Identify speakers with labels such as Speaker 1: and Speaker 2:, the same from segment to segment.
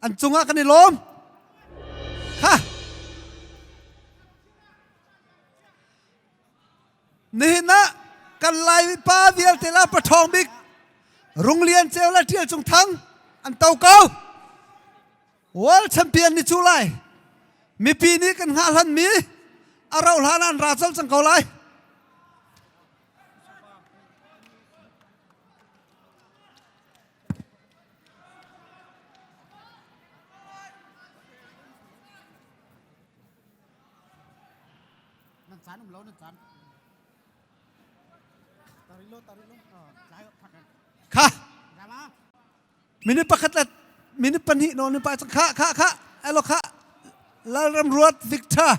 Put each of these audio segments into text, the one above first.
Speaker 1: an cungah kan i lawm ha nihin ah kan lai mipa vialte la pathawng bik runglian ceu la ṭial cung thang an to ko world champion ni cu lai mipi nih kan hngah hlan mi a rauh hlan an ra col cang ko lai Nan caan um lo nan caan. Kha. Minute pakhat la minute pahnih no ni pa cang kha kha kha alo kha Lalram Ruat Victor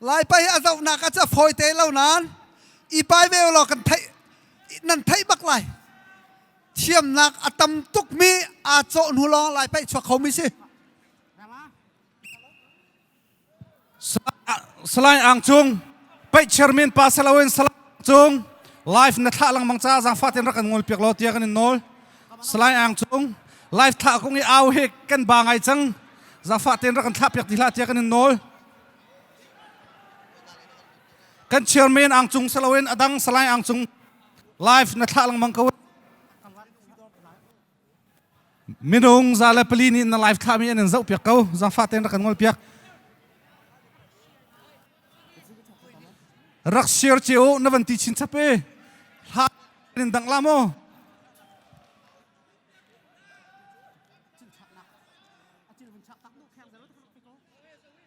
Speaker 1: lai pa hi a zohnak ah cu a fawi te lo nan i pai ve law kan theih nan theih bak lai thiamnak a tam tukmi aa cawh hnu lawng lai pa chuak kho mi si salai ang cung pei chairman pa saloin salai cung live na thlah lang bang ca zang fatin rak kan ngol piak lo tia kan in nol salai ang cung live thlah kong i au he kan ba ngai chang zang fatin rak kan thlah piak ti hla tia kan in nol kan chairman ang cung saloin adang salai ang cung live na thlah langmang ko minung za le pali nih na live thlah mi an zoh piak ko zafa ten rak kan ngol piak rak share ce o na van ti chin chape hla in dang la mo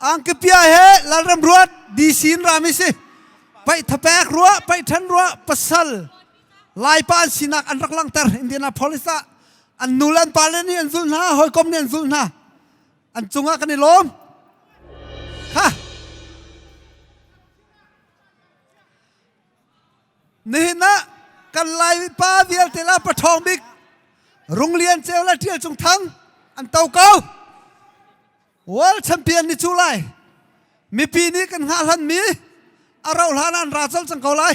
Speaker 1: angkapia he lalram ruat dc in rami si paih thapek ruah paih than ruah pasal laipa an sinak an rak langter indianapolis ah an nu le an pa le nih an zulh hna hawikom nih an zulh hna an cungah kan i lawm ha nihin ah kan laipa vialte la pathawng bik rung lian ceu le tial cung thang an to ko World champion ni cu lai mipi nih kan hngah hlanmi a rauh hlan an ra cang cang ko lai